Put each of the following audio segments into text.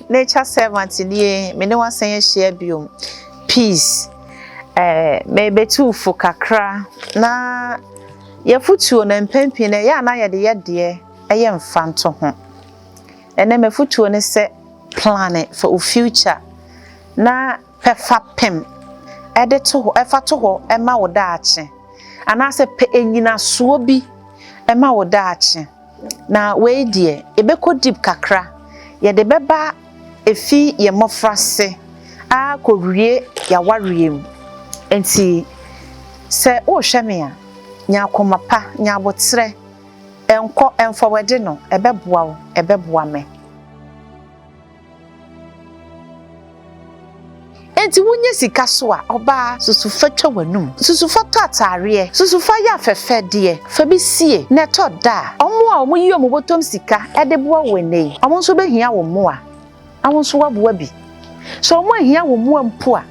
Nature servant nie, me ne wasan ahyia bio. Peace. Eh, mebɛtu fo kakra na yɛfotuo no mpɛn pii na ɛyɛ a na yɛde yɛ deɛ ɛyɛ mfanto ho. Ɛnɛ mɛfotuo ne sɛ plan for wo future na pɛfa pem ɛde to hɔ ɛfa to hɔ ɛma wo daakye anaasɛ pɛ enyinasoɔ bi ɛma wo daakye. Na wei deɛ, yɛbɛkɔ deep kakra, yɛde bɛba ɛfi yɛn mmɔfrase ara kɔwie yɛn awareɛ mu. Enti sɛ worehwɛ me a, nya akoma pa, nya aboterɛ, nkɔ, ɛmfɔwɛde no, ɛbɛboa wo, ɛbɛboa me. Enti wonya sika so a, ɔbaa, susu fa twa w'anum, susu fa tɔ ataareɛ, susu fa yɛ afɛfɛdeɛ, fa bi sie, na ɛtɔ da a, wɔn a wɔyi wɔn bɔtɔm sika de boa wo ɛnnɛ yi, wɔn nso bɛhia wo mmoa, na wo nso woaboa bi. Sɛ wɔanhia wo mmoa mpo a,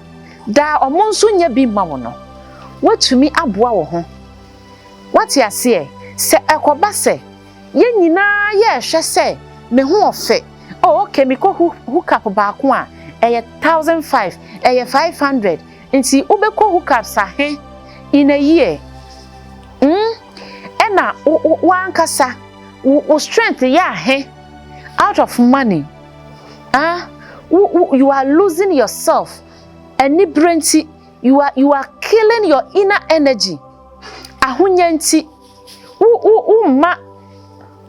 daa wɔn nso nya bi ma wo no, woatumi aboa wo ho. Woate aseɛ? Sɛ ɛkɔba sɛ Yɛn nyinaa yɛɛ hwɛ sɛ me ho ɔfɛ oh ok me kɔ hook up baako a ɛyɛ thousand five ɛyɛ five hundred nti wo bɛ kɔ hook ups ahe in a year mm ɛna wo ankasa wo strength yɛ ahe out of money ah wo wo you are losing yourself ɛni bere nti you are you are killing your inner energy ahonya nti wo mma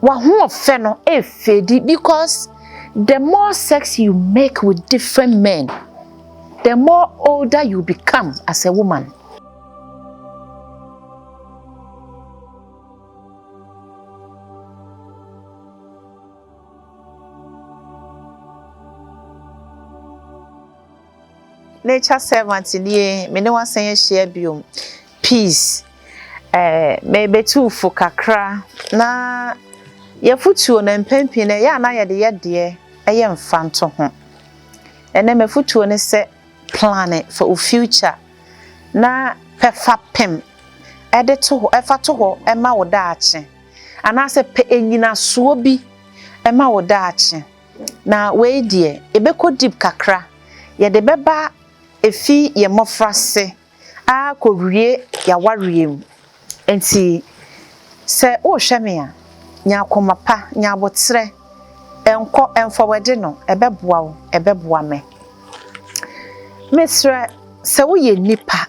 w'ahoɔfɛ no efedi because the more sex you make with different men the more older you become as a woman. Nature servant nie, me ne wo asan ahyia biom. Peace. Eh, mebetu wo fo kakra na yɛfotuo no mpɛn pii no ɛyɛ a na yɛde yɛ deɛ ɛyɛ mfanto ho. Ɛnɛ m'afotuo ne sɛ plane for wo future na pɛ fa pem ɛde to hɔ, ɛfa to hɔ ɛma wo daakye anaasɛ pɛ enyinasoɔ bi ɛma wo daakye. Na wei deɛ, yɛbɛkɔ deep kakra, yɛde bɛba ɛfiri yɛn mmɔfrase ara kɔwie yɛn awareɛ mu. Enti sɛ worehwɛ me a, nya akoma pa, nya aboterɛ, nkɔ, mfa w'adi no, ɛbɛboa wo, ɛbɛboa me. Mesrɛ, sɛ woyɛ nipa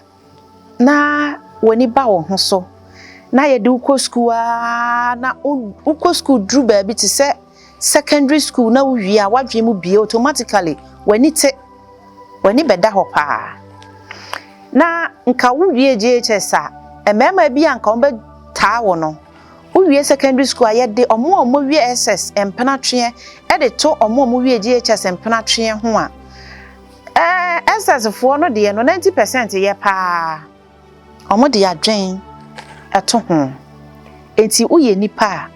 na w'ani ba wo ho so na yɛde wo kɔ sukuu aa na wokɔ sukuu duru baabi te sɛ secondary school na wowie a w'adwene mu bie automatically w'ani te w'ani bɛda hɔ paa na nka wowie GHS a mmarima bi a nka wɔbɛtaa wo no wowie secondary school a yɛde ɔmo a ɔmo wie SS mpenatweɛ ɛde to ɔmo a ɔmo wie GHS mpenatweɛ ho a Ɛɛ, Essex-foɔ no deɛ no ninety percent yɛ pa ara. Wɔde adwen to ho. Enti woyɛ nipa a,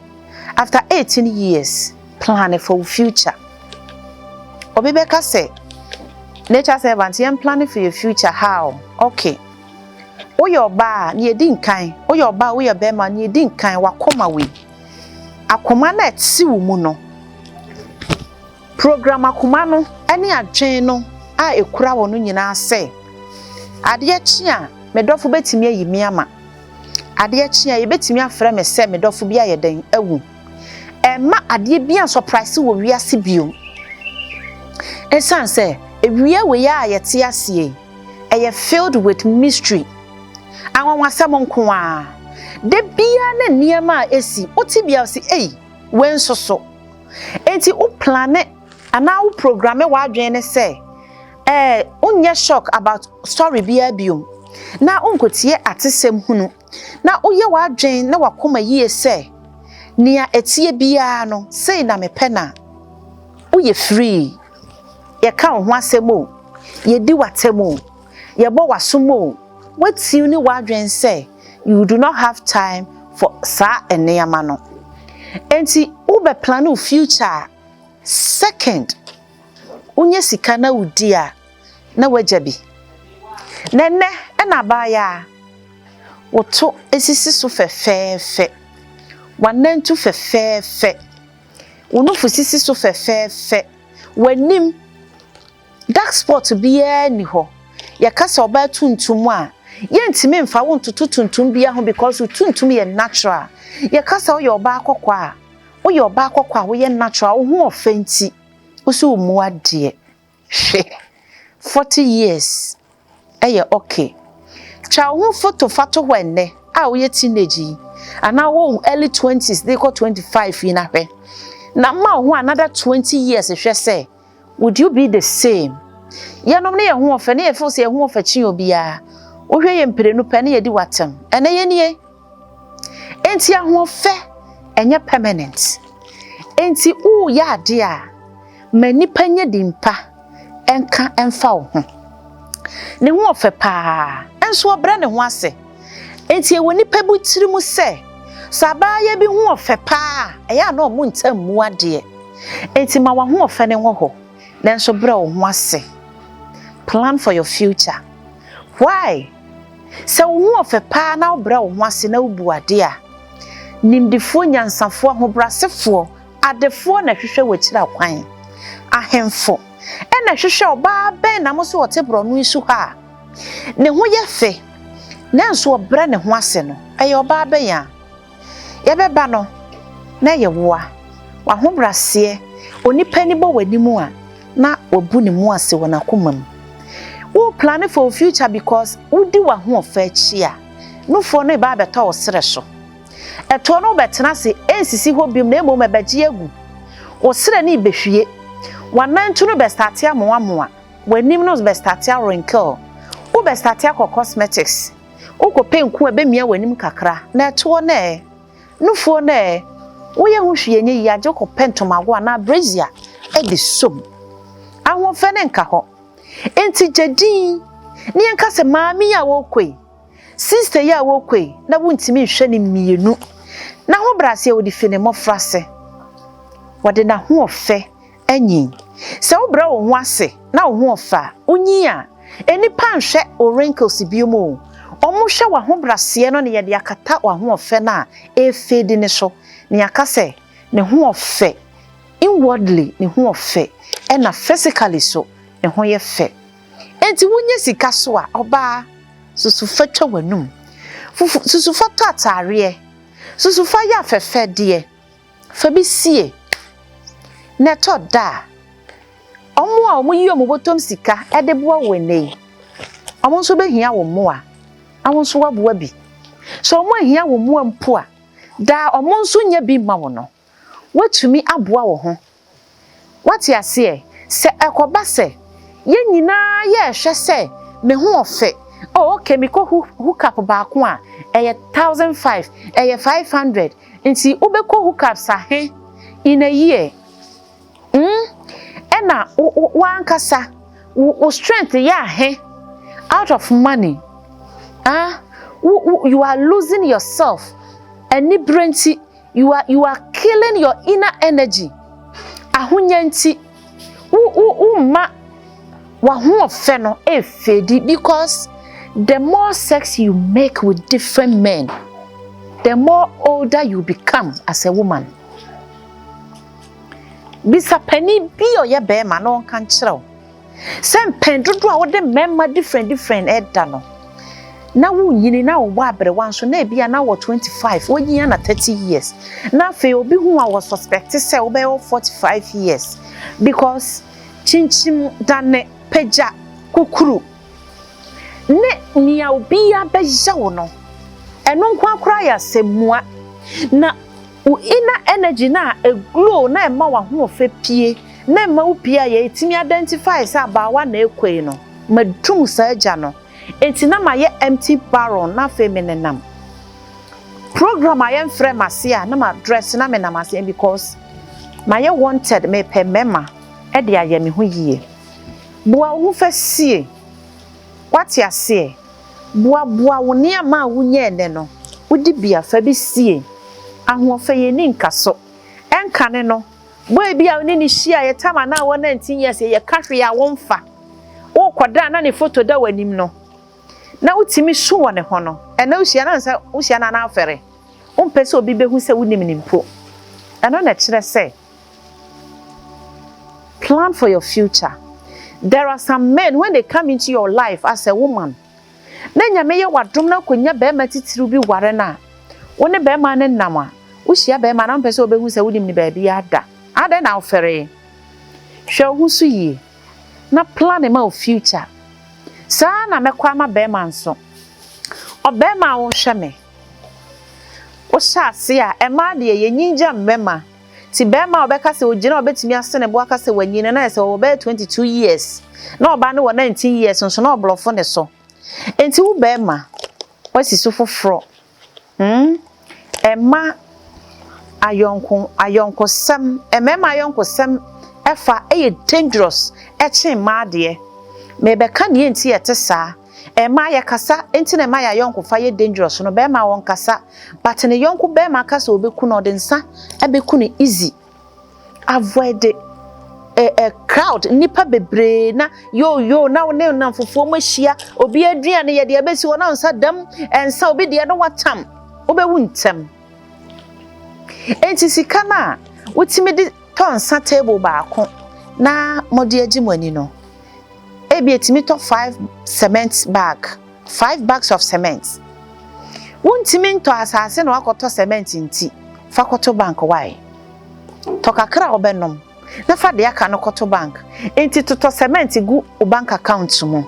after eighteen years, plane for wo future. Obi bɛka sɛ, Nature servant, yɛn plane for yɛn future how? Ok, woyɛ ɔbaa a, nea ɛdi nkan, woyɛ ɔbaa a, woyɛ barima a, nea ɛdi nkan, w'akoma wei. Akoma no a ɛte wo mu no. Program akoma no ne adwene no a ekura hɔ no nyinaa sɛ, Adeɛ kye a, me dɔfo betumi ayi me ama. Adeɛ kye a, yebetumi afrɛ me sɛ me dɔfo bi ayɛ dɛn? Awu. Ɛremma adeɛ biara nsɔpraese wɔ wiase bio. Esiane sɛ ewia wei ara a yɛte ase yi, ɛyɛ filled with mystery, anwanwasɛm nko ara. Da biara ne nneɛma a esi, wo tebea a ɔse, Ei, wei nso so! Enti wo plane anaa wo programe w'adwene no sɛ ɛɛ wonyɛ shock about story biara biom, na wonkotie atesɛm hunu, na woyɛ w'adwene ne w'akoma yie sɛ nea ɛteɛ biara no sei na mepɛ no a, woyɛ free. Yɛka wo ho asɛm o, yɛdi w'atɛm o, yɛbɔ w'asom o, woatiw ne w'adwene sɛ you do not have time for saa nneɛma no. Enti wobɛ plane wo future a, second wonya sika na wodi a, na wagya bi. Na ɛnnɛ ɛna abaayaa wo to sisi so fɛfɛɛfɛ, w'anantu fɛfɛɛfɛ, wo nofo sisi so fɛfɛɛfɛ, w'anim. Dark spot biara nni hɔ. Yɛka sɛ ɔbaa tuntum a, yɛntumi mfa wo ntoto tuntum biara ho because wo tuntum yɛ natural. Yɛka sɛ woyɛ ɔbaa kɔkɔɔ a, woyɛ ɔbaa kɔkɔɔ a woyɛ natural, wo ho ɔfɛ nti, wo so wommu adeɛ. Hwɛ! Forty years ɛyɛ ok. Twa wo ho foto fa to hɔ ɛnnɛ a woyɛ teenage yi anaa wowɔ wo early twenties de kɔ twenty five yi na hwɛ. Na ma wo ho another twenty years hwɛ sɛ would you be the same? Yɛnom ne yɛn ho ɔfɛ na yɛ feel sɛ yɛn ho ɔfɛ kyen obiara. Wohwɛ yɛ mprenu pɛ na yɛdi wo atɛm. Ɛnnɛ yɛnie? Enti ahoɔfɛ ɛnyɛ permanent. Enti woreyɛ adeɛ a, ma nnipa nyɛ din pa nka mfa wo ho. Ne ho ɔfɛ pa ara, nso ɔbrɛ ne ho ase. Enti ɛwɔ nnipa bi tiri mu sɛ, sɛ abaayewa bi ho ɔfɛ pa ara a, ɛyɛ a na wɔn ntam mmu adeɛ. Enti ma w'ahoɔfɛ no wɔ hɔ, nanso brɛ wo ho ase. Plan for your future. Why? Sɛ wo ho ɔfɛ paa na wobrɛ wo ho ase na wubu ade a, nimdefoɔ, nyansafoɔ, ahobrasefoɔ, adefoɔ na ɛhwehwɛ w'akyira kwan. Ahemfo na ɛhwehwɛ ɔbaa bɛn na mo so ɔte borɔno yi so ha a ne ho yɛ fɛ nanso ɔbrɛ ne ho ase no. Ɛyɛ ɔbaa bɛn a? Yɛbɛba no na ɛyɛ wo a, w'ahobraseɛ, onipa ani bɔ w'anim a, na wabu ne mu ase wɔ n'akoma mu. Wo plane for wo future because wodi w'ahoɔfɛ akyi a, nufoɔ no reba abɛtɔ wo serɛ so. Ɛtoɔ no wobɛtena ase, ɛnsisi hɔ biom na mmom ɛbɛgye agu. Wo serɛ no rebɛhwie. W'anantu no bɛstate amoamoa. W'anim no bɛstate awrinkle. Wobɛstate akɔ cosmetics. Wokɔpɛ nku a ɛbɛmia w'anim kakra, na ɛtoɔ no ɛ? Nufoɔ no ɛ? Woyɛ ho hwee nyɛ yie agye wokɔpɛ ntomago anaa brazier de sɔ mu. Ahoɔfɛ no nka hɔ. Enti gya dinn na yɛnka sɛ maame yi a worekɔ yi, sista yi a worekɔ yi, na wontumi nhwɛ no mmienu. N'ahobrɛaseɛ, wɔde fi ne mmɔfraase. Wɔde n'ahoɔfɛ Anyin. Sɛ wobrɛ wo ho ase na wo ho ɔfɛ a, wunyin a. Nnipa nhwɛ wo wrinkles biom o. Wɔhwɛ w'ahobraseɛ no ne yɛde akata w'ahoɔfɛ no a ɛrefeedi no so, na yɛaka sɛ ne ho ɔfɛ. Inwardly ne ho ɔfɛ, ɛna physically so ne ho yɛ fɛ. Enti wonya sika so a, ɔbaa, susu fa twa w'anum. Susu fa tɔ ataareɛ. Susu fa yɛ afɛfɛdeɛ. Fa bi sie, na ɛtɔ da a, wɔn a wɔyi wɔn bɔtɔm sika de boa wo nnɛ yi, wɔn nso bɛhia wo mmoa, na wo nso woaboa bi. Sɛ wɔanhia wo mmoa mpo a, daa wɔn nso nya bi ma wo no, woatumi aboa wo ho Woate aseɛ? Sɛ ɛkɔba sɛ yɛn nyinaa yɛrehwɛ sɛ me ho ɔfɛ, oh okay mekɔ hook up baako a, ɛyɛ thousand five, ɛyɛ five hundred, nti wobɛkɔ hook ups ahe in a year? Hmm? Ɛna w'ankasa wo strength yɛ ahe out of money? Ah? You are losing yourself, anibere nti. You are you are killing your inner energy. Ahonya nti wo wo wo ma wahoɔfɛ no efedi because the more sex you make with different men the more older you become as a woman. Bisa panin bi ɔyɛ bɛrima na ɔnka nkyerɛ wo. Sɛ mpɛn dodoɔ a wode mmarima different different ɛda no, na wonyini na wowɔ aberewa nso na ebia na wɔ 25, wonyin a na 30 years. Na afei obi hu a wɔ suspect sɛ wobɛyɛ wɔ 45 years because kyinkyim dane, pagya, kukuru ne nea obiara bɛyɛ wo no, ɛno nko ara koraa yɛ asɛmmua. Na Wo inner energy no a e glow na ɛma w'ahoɔfɛ pie na ɛma wo pie a yɛ tumi identify sɛ abaawa na ɛkɔ yi no, madu mu saa gya no nti na mayɛ empty barrel na afei me nenam program a yɛmfrɛ m'ase a na ma dress na me nam ase because mayɛ wanted me pɛ mɛma ɛde ayɛ me ho yie. Boa wo ho fɛ sie. Wate aseɛ? Boaboa wo nneɛma a wunyae nnɛ no, wo dibea fa bi sie. Ahoɔfɛ yɛ nni nkaso. Ɛnkane no, boy bi a wo ne no hyiaeɛ tam a na wɔ nineteen years yɛ yɛ ka hwee a wo mfa. Worekɔ da a na ne foto da w'anim no, na wo tumi su wɔ ne ho no, ɛnɛ wo hyia no ansa wo hyia no a na afɛre. Wo mpɛ sɛ obi bɛhu sɛ wo nim no mpo. Ɛno na ɛkyerɛ sɛ Plan for your future there are some men when they come into your life as a woman na nyame yɛ wadom na akonya bɛrima titiriw bi ware no a wo ne bɛrima no nam a wohyia bɛrima na mpɛ sɛ wobɛhu sɛ wonim ne baabi ada adɛn na wofɛree hwɛ wo ho so yie na plan ma wo future saa na mɛkɔ ama bɛrima nso ɔbɛrima a wohwɛ me Wohyɛ ase a, mmaa deɛ, yɛnyin gya mmarima. Nti barima a ɔbɛka sɛ ɔgyina a ɔbɛtumi ase ne bo aka sɛ wanyin no, na ayɛ sɛ ɔwɔ bɛyɛ twenty two years, na ɔbaa no wɔ nineteen years nso, na ɔborɔfo ne so. Nti wo barima, woasi so foforɔ. Hmm, ɛmma ayɔnko, ayɔnkosɛm, mmarima ayɔnkosɛm fa yɛ dangerous kyɛn mmaa deɛ. Merebɛka deɛ nti a ɛte saa. Ɛmma yɛ kasa nti na ɛma yɛ ayɔnkofa yɛ dangerous no bɛɛma wɔn kasa but ne yɔnko bɛɛma aka sɛ ɔbɛku no ɔde nsa ɛbɛku no easy avoid ɛ eh, ɛ eh, crowd nipa bebree na yoo yoo na ne nnamfofoɔ mu ahyia obi aduane yɛ deɛ ɛbɛsi hɔ na nsa dam ɛnsa obi deɛ no watam wobɛwu ntɛm enti sika no a wotumi de tɔ nsa table baako na mɔde agye mo ani no ebi etumi tɔ five cement bag, five bags of cement. Wontumi ntɔ asase na wakɔtɔ cement nti, fa kɔto bank why? Tɔ kakra a wobɛnom na fa deɛ aka no kɔto bank. Enti totɔ cement gu wo bank account mu.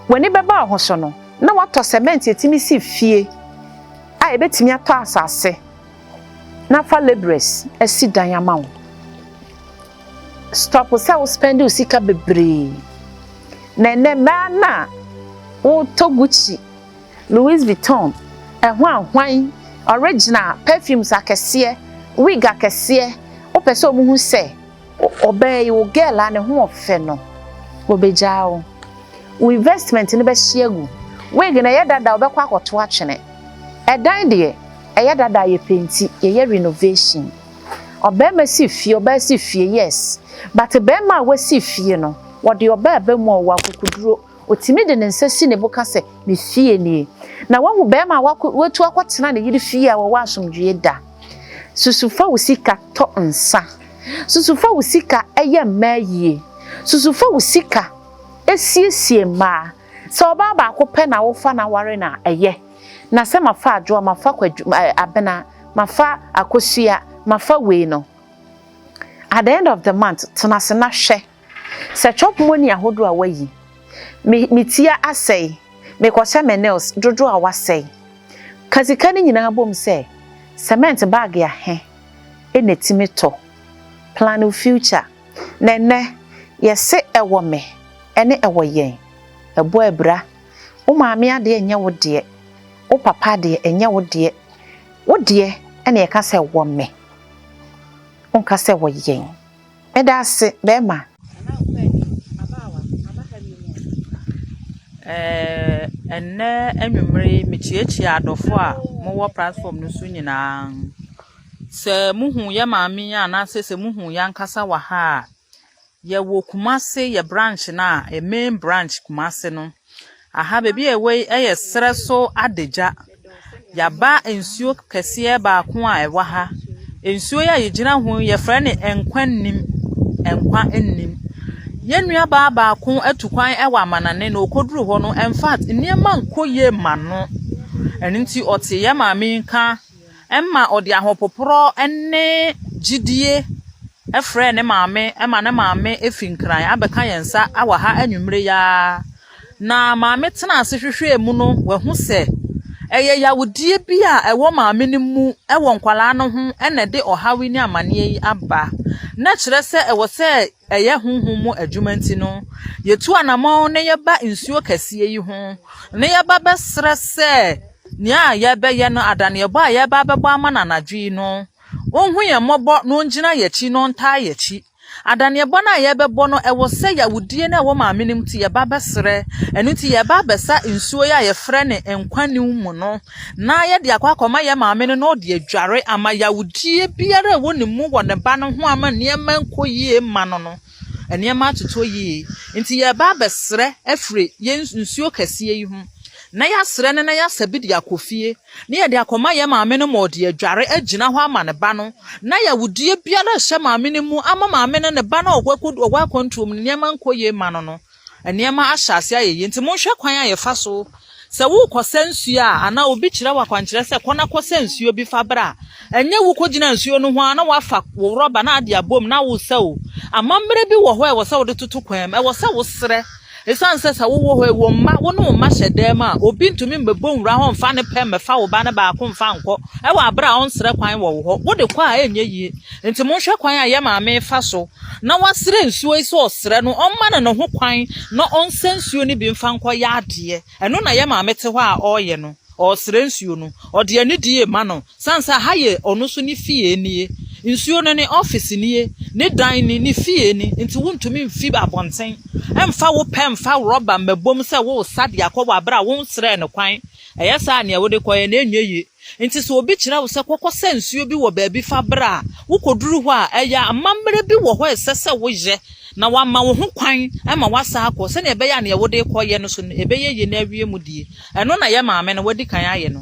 W'ani bɛba wo ho so no na watɔ cement a etumi si fie a ebetumi atɔ asase na afa labourers asi dan ama wo. Stop sɛ wo spend wo sika bebree. Na ɛnɛ mmaa no a wotɔ Gucci, Louis Vuitton, ɛho ahwan, original, perfumes akɛseɛ, wig akɛseɛ, wopɛ sɛ wɔhu sɛ ɔbaa yi, wo girl a ne ho ɔfɛ no, wɔbɛgyaa wo. Wo investment no bɛhye agu. Wig no ɛyɛ dada a wobɛkɔ akɔto atwene. Ɛdan deɛ, ɛyɛ dada a yɛpenti, yɛyɛ renovation. Ɔbarima si fie, ɔbaa si fie, yes. But barima a wasi fie no, ɔde ɔbaa ba mu a, ɔwɔ akokoduro. Ɔtumi de ne nsa si ne bo ka sɛ, me fie nie. Na wahu barima a wako, watu akɔtena ne yere fie a wɔwɔ asomdwoeɛ da. Susu fa wo sika tɔ nsa. Susu fa wo sika yɛ mmaa yie. Susu fa wo sika siesie mmaa. Sɛ ɔbaa baako pɛ na wofa na ware no a, ɛyɛ. Na sɛ mafa Adwo a, mafa Kwadu, ɛɛ, Abena, mafa Akosua, mafa wei no, at the end of the month, tena ase na hwɛ. Sɛ chop money ahodoɔ a woayi, me, me ti asɛe, mekɔhyɛ me nails dodoɔ a woasɛe. Ka sika no nyinaa bom sɛ, cement bag ahe na ɛtumi tɔ. Plan wo future. Na ɛnnɛ, yɛse ɛwɔ me ne ɛwɔ yɛn. Ɛbɔ abira. Wo maame adeɛ ɛnyɛ wo deɛ, wo papa adeɛ ɛnyɛ wo deɛ. Wo deɛ ɛna yɛka sɛ ɛwɔ me. Wonka sɛ ɛwɔ yɛn. Meda ase, bɛɛma. Anaa ɔpɛ ani, abaawa, aba ha bio mu a. Eh, ɛnnɛ anwummere yi, mekyiakyia adɔfo a mowɔ platform no so nyinaa. Sɛ muhu yɛ maame yi anaasɛ sɛ muhu yɛ ankasa wɔ ha a, yɛwɔ Kumase yɛ branch no a, yɛ main branch Kumase no. Aha baabi a ɛwɔ yi yɛ serɛ so adagya. Yɛaba nsuo kɛseɛ baako a ɛwɔ ha. Nsuo yi a yɛgyina ho yi yɛfrɛ no nkwa nnim, nkwa nnim. Yɛn nuabaa baako atu kwan wɔ amanane na ɔkɔduru hɔ no, in fact nneɛma nkɔ yie mma no. Ɛno nti ɔte yɛ maame yi nka Ɛma ɔde ahopoprɔ ne gyidie frɛɛ ne maame ma ne maame firi Nkran abɛka yɛn nsa wɔ ha anwummere yi ara. Na maame tenaa ase hwehwɛɛ mu no, wahu sɛ ɛyɛ yawodeɛ bi a ɛwɔ maame no mu wɔ nkwadaa no ho na ɛde ɔhaw yi ne amaneɛ yi aba. Na kyerɛ sɛ ɛwɔ sɛ ɛyɛ honhom mu adwuma nti no, yɛtu anamɔn na yɛba nsuo kɛseɛ yi ho na yɛba bɛsrɛ sɛ Nea yɛrebɛyɛ no, adaneɛbɔ a yɛreba abɛbɔ ama no anadwo yi no, onhu yɛn mmɔbɔ na ongyina yɛn akyi na ɔntaa yɛn akyi. Adaneɛbɔ no a yɛrebɛbɔ no, ɛwɔ sɛ yawudie no a ɛwɔ maame no mu nti yɛba abɛsrɛ. Ɛno nti yɛreba abɛsa nsuo yi a yɛfrɛ no nkwa niw mu no na yɛde akɔ akɔma yɛn maame no na ɔde adware ama yawudie biara a ɛwɔ ne mu wɔ ne ba no ho ama nneɛma nkɔ yie mma no no. Nneɛma atotɔ yie, nti yɛreba abɛsrɛ afiri yɛn nsuo kɛseɛ yi ho. Na yɛasrɛ no na yɛasa bi de akɔ fie, na yɛde akɔma yɛn maame no ma ɔde adware agyina hɔ ama ne ba no, na yɛawodeɛ biara rehyɛ maame no mu ama maame no ne ba no a ɔwɔ akwantuo mu no nneɛma nkɔ yie mma no no. Nneɛma ahyɛ ase ayɛ yie, nti monhwɛ kwan a yɛfa so Sɛ worekɔsa nsuo a, anaa obi kyerɛ wo akwankyerɛ sɛ kɔ na kɔsa nsuo bi fa bra a, ɛnyɛ wokɔgyina nsuo no ho ara na woafa wo rɔba na ade abom na woresa o. Amammerɛ bi wɔ hɔ a ɛwɔ sɛ wode toto kwan mu, ɛwɔ sɛ wosrɛ. Ɛsiane sɛ sɛ wowɔ hɔ yi, wo mma, wo ne wo mma hyɛ dan mu a, obi ntumi mmɛbɔ nwura hɔ mfa ne pɛ mmɛfa wo ba no baako mfa nkɔ wɔ aberɛ a ɔnsrɛ kwan wɔ wo hɔ. Wode kɔ a ɛrenyɛ yie. Nti monhwɛ kwan a yɛ maame refa so na wasrɛ nsuo yi sɛ ɔsrɛ no ɔmma no ne ho kwan na ɔnsɛ nsuo no bi mfa nkɔ yɛ adeɛ. Ɛno na yɛ maame te hɔ a ɔreyɛ no. Ɔresrɛ nsuo no. Ɔde anidie rema no. Sane sɛ ha yɛ ɔno nso ne fie nie. Nsuo no ne office nie, ne dan ni, ne fie ni. Nti wontumi mfi abɔnten mfa wo pɛ mfa rɔba mmɛbom sɛ woresa de akɔ wɔ aberɛ a wonsrɛɛ no kwan. Ɛyɛ saa a nea wode kɔeɛ no ɛnyɛ yie. Enti sɛ obi kyerɛ wo sɛ kɔkɔsa nsuo bi wɔ baabi fa bra a, wokɔduru hɔ a, ɛyɛ a amammerɛ bi wɔ hɔ a ɛsɛ sɛ woyɛ na wama wo ho kwan ma woasan akɔ sɛdeɛ ɛbɛyɛ a deɛ wode rekɔyɛ no so no ɛbɛyɛ yie na awie mu deɛ ɛno na yɛ maame no wadi kan ayɛ no.